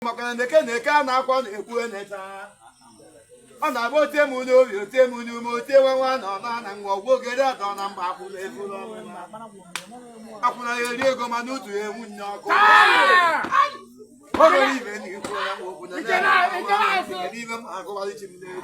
maka na eke na eke a na-akwa na-ekwu eneta ọ na-agba otie m n'obi otie m n'ume otie nwa nwa na ọna na nwa ọgwụ ogere atọ na mba akwụna efuru akwụna ya eri ego mana otu ya enwu nne ọkụ o nwere ibe na ikwu ya nwa okwu na ya na-agụgharị chi m n'egwu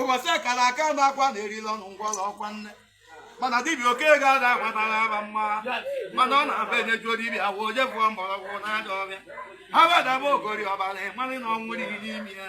ụbọchị akara aka na agha na-erila ọnụ ngwọrọ ọkwa nne mana dibịa oke ga-ada agbatara aba mma mana ọ na-abụ enyejuo dibịa afọ o je bụọ mgbọrọgwụ n'ajọ ọfịa ha wedaba ogori ọbara ịmarị na ọnwụ riri n'ime ya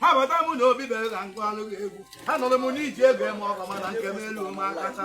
abata m na obi bere ka m gụalụ gị egwu anụrụ m n'eji ego eme ọgọ mana nke m elu m akacha